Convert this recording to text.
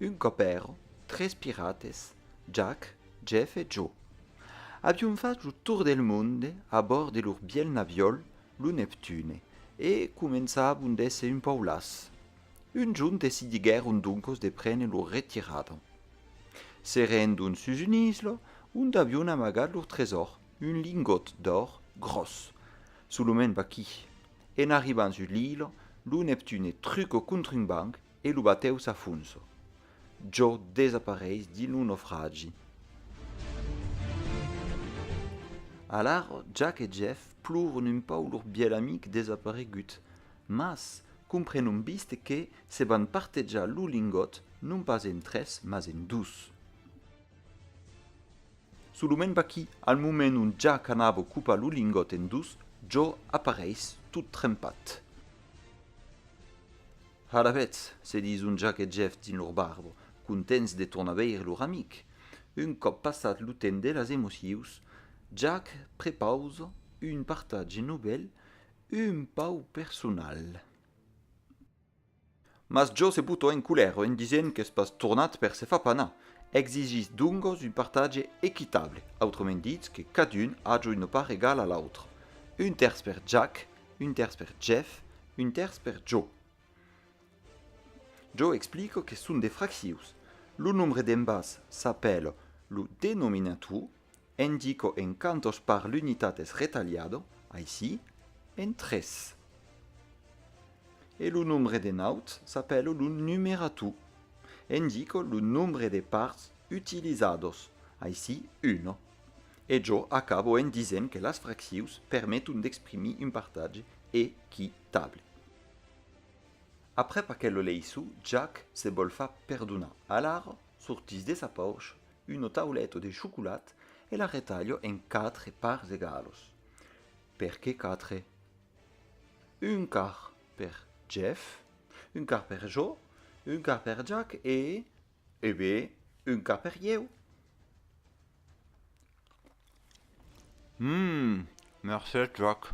Un còp èran tres pirates, Jack, Jeff e Joe. Avián fach lo tour del monde a bòrd de lor bièlh naviòl, lo Neptune, e començavan d'èsser un pauc las. Un junh decidiguèron doncos de prene lor retirada. Se rendon sus un isla ont avion amagat lor tresòr, un lingòt d'òr gròs, solament vaquí. En arribant sus l'ila, lo Neptune truca contra un banc e lo batèu s'afonsa. Jò desapareis dins lo naufragi. Alara, Jack e Jeff ploran un pauc lor bièlh amic desaparegut. Mas, comprenon vist que se van partejar lo lingòt non pas en tres, mas en dus. Solament vaquí, al moment ont ja qu'anavo copar lo lingòt en dus, jo apareis tot trempat. Alavetz, se dison Jack e Jeff dins lor barbo, contents de tornar veire lor amic. Un còp passat lo temps de las emocius, Jack prepausa un partatge novèl, Un pau personal. Mas jo se boto en colèra en disent qu'es pas tornat per se far panar. Exigís dongos un partatge equitable, autrament ditz que cadun aja una part egala a l'autre. Un tèrç per Jack, un tèrç per Jeff, un tèrç per jo. Jo explico que son de fraccions. Lo nombre d'embats s'apèla lo denominator Indico en cantos par l'unitat es retalhado, aicí, en tres. E lo nombre de naut s'apèlo lo numerator. Indico lo nombre de parts utilizados, aicí, uno. E jo acabo en disent que las fraccions permeton d'exprimir un partatge equitable. Aprèp aquel oleissou, Jack se vòl far perdonar. Alara, sortís de sa paush Uno tauleto de chocolat e la retalho en quatre parts egalos. Per que quatre? Un quart per Jeff, un quart per jo, un quart per Jack e, e be, un quart per ieu. Hum, mercés Jack.